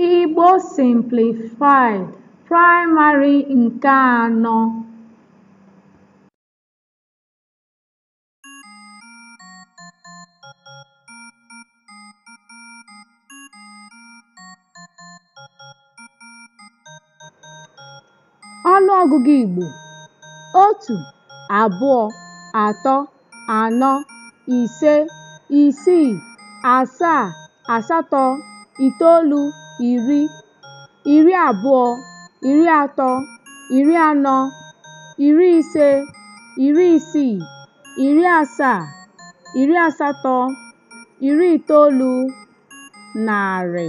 Igbo Simplified Praịmarị nke anọ Ọnụ ọgụgụ Igbo otu, abụọ, atọ, anọ, ise, isii, asaa, asatọ, itoolu, iri, iri abụọ, iri atọ, iri anọ, iri ise, iri isii, iri asaa, iri asatọ, iri itoolu, narị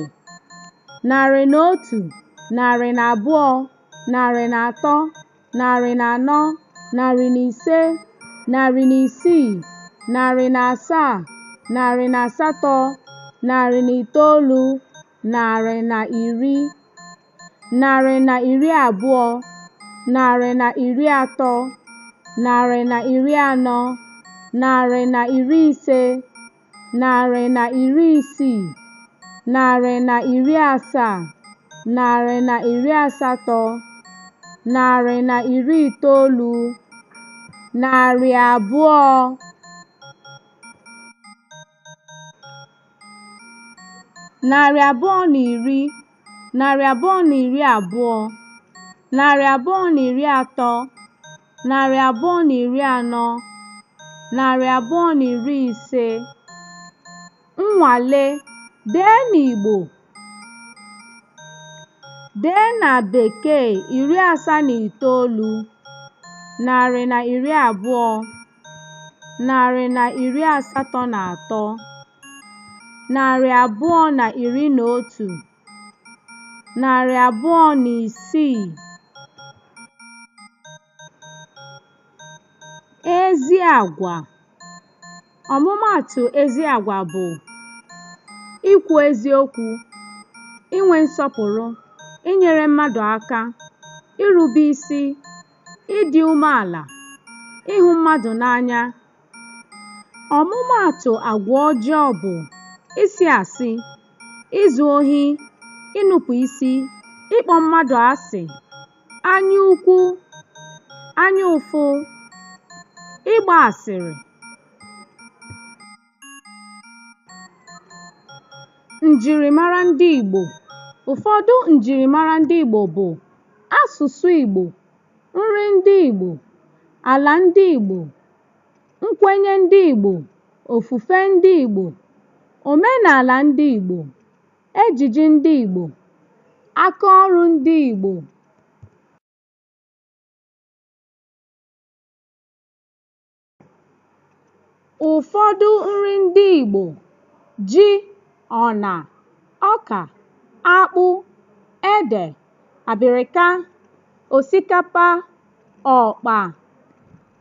narị na otu narị na abụọ narị na atọ narị na anọ narị na ise narị na isii narị na asaa narị na asatọ narị na itoolu narị na iri narị na iri abụọ narị na iri atọ narị na iri anọ narị na iri ise narị na iri isii, narị na iri asaa, narị na iri asatọ, narị na iri itoolu, narị abụọ, narị abụọ na iri, narị abụọ na iri abụọ, narị abụọ na iri atọ, narị abụọ na iri anọ narị abụọ na iri ise nnwale dee n'Igbo dee na Bekee iri asaa na itoolu narị na iri abụọ narị na iri asatọ na atọ narị abụọ na iri na otu narị abụọ na isii ezi agwa ọmụmaatụ ezi agwa bụ ikwu eziokwu inwe nsọpụrụ inyere mmadụ aka irube isi ịdị umeala ịhụ mmadụ n'anya ọmụmaatụ agwa ọjọọ bụ ịsị asị izu ohi, inupụ isi, ịkpọ mmadụ asị, anya ukwu, anya ụfụ, ịgba asịrị. Njirimara ndị Igbo Ụfọdụ njirimara ndị Igbo bụ asụsụ Igbo, nri ndị Igbo, ala ndị Igbo, nkwenye ndị Igbo, ofufe ndị Igbo, omenala ndị Igbo, ejiji ndị Igbo, aka ọrụ ndị Igbo. Ụfọdụ nri ndị Igbo, ji, ọna, ọka, akpụ, ede, abịrịka, osikapa, ọkpa,